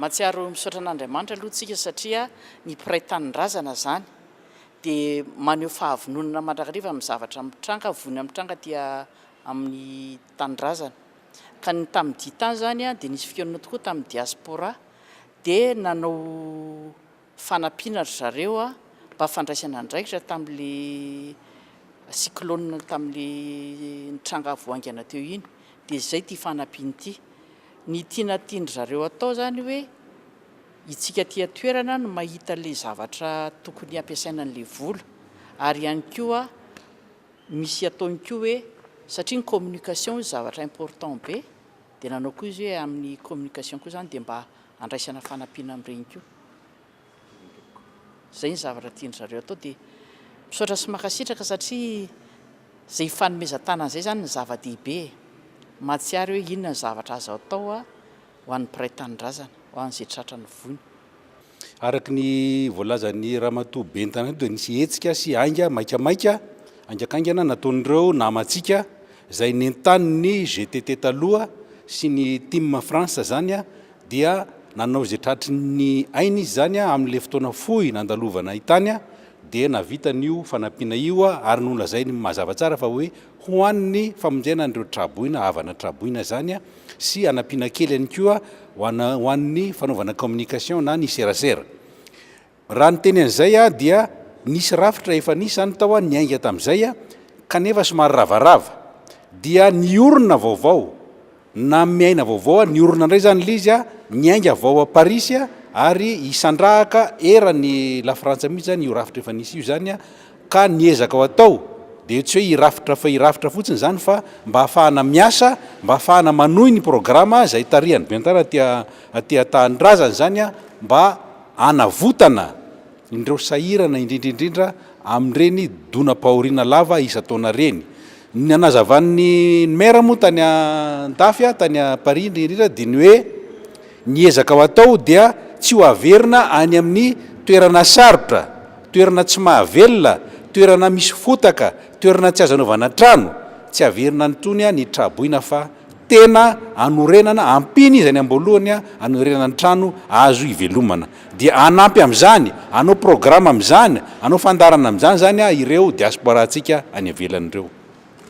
Mahatsiaro misaotra an'Andriamanitra aloha tsika satria ny mpiray tanindrazana zany dia maneho fahavononana mandrakariva amin'ny zavatra mitranga, vonona mitranga aty amin'ny tanindrazana. Ka ny tamin'ny Diy tany zany dia nisy fikaonana tokoa tamin'ny diaspora dia nanao fanampiana ry zareo mba fandraisana andraikitra tamin'ilay cyclone tamin'ilay nitranga vao haingana teo iny dia izay ity fanampiana ity. Ny tiana tian-dry zareo atao izany hoe itsika aty an-toerana no mahita an'ilay zavatra tokony hampiasaina an'ilay vola ary ihany koa misy ataony koa hoe satria ny communication hoy zavatra important be dia nanao koa izy hoe amin'ny communication koa izany dia mba Andraisana fanampiana amin'ireny koa. Izay ny zavatra tian-dry zareo atao dia misaotra sy mankasitraka satria izay ifanomezan-tanana izay izany no zava-dehibe e. Mahatsiaro hoe inona ny zavatra azo atao ho an'ny mpiray tanindrazana, ho an'izay tratra ny voina. Araka ny voalazan'i Ramatoa Ben'ny tanàna eto dia nisy hetsika sy ainga maikamaika haingankaingana nataon'ireo namantsika, Izay nentanin'ny GTT taloha sy ny Team France izany dia nanao izay tratry ny ainy izy izany amin'ilay fotoana fohy nandalovana tany dia nahavita an'io fanampiana io ary nolazainy mazava tsara fa hoe ho an'ny famonjena an'ireo tra-boina, havana tra-boina izany sy hanampiana kely ihany koa ho an'ny fanaovana communication na ny serasera. Raha ny teny an'izay aho dia nisy rafitra efa nisy izany tao aho niainga tamin'izay aho kanefa somary ravarava dia niorina vaovao nanome aina vaovao aho niorina indray izany ilay izy aho niainga avy ao Parisy aho ary hisandrahaka eran'i La Frantsa mihitsy izany io rafitra efa nisy io izany aho ka ny ezakao atao dia tsy hoe hirafitra fa hirafitra fotsiny izany fa mba hahafahana miasa mba hahafahana manohy ny programa izay tarihan'i Bentara aty aty an-tanindrazana izany aho mba hanavotana ireo sahirana indrindra indrindra amin'ireny donam-pahoriana lava isan-taona ireny. Ny nanazavan'ny Maire moa tany an-dafy tany Paris indrindra indrindra dia ny hoe ny ezaka ho atao dia tsy ho averina any amin'ny toerana sarotra, toerana tsy mahavelona, toerana misy fotaka, toerana tsy azo anaovana trano, tsy averina any intsony ny tra-boina fa. tena anorenana, ampiany izy any amboalohany anorenana ny trano azo hivelomana. Dia hanampy amin'izany, hanao programa amin'izany, hanao fandaharana amin'izany izany ireo diaspora-ntsika any ivelany ireo.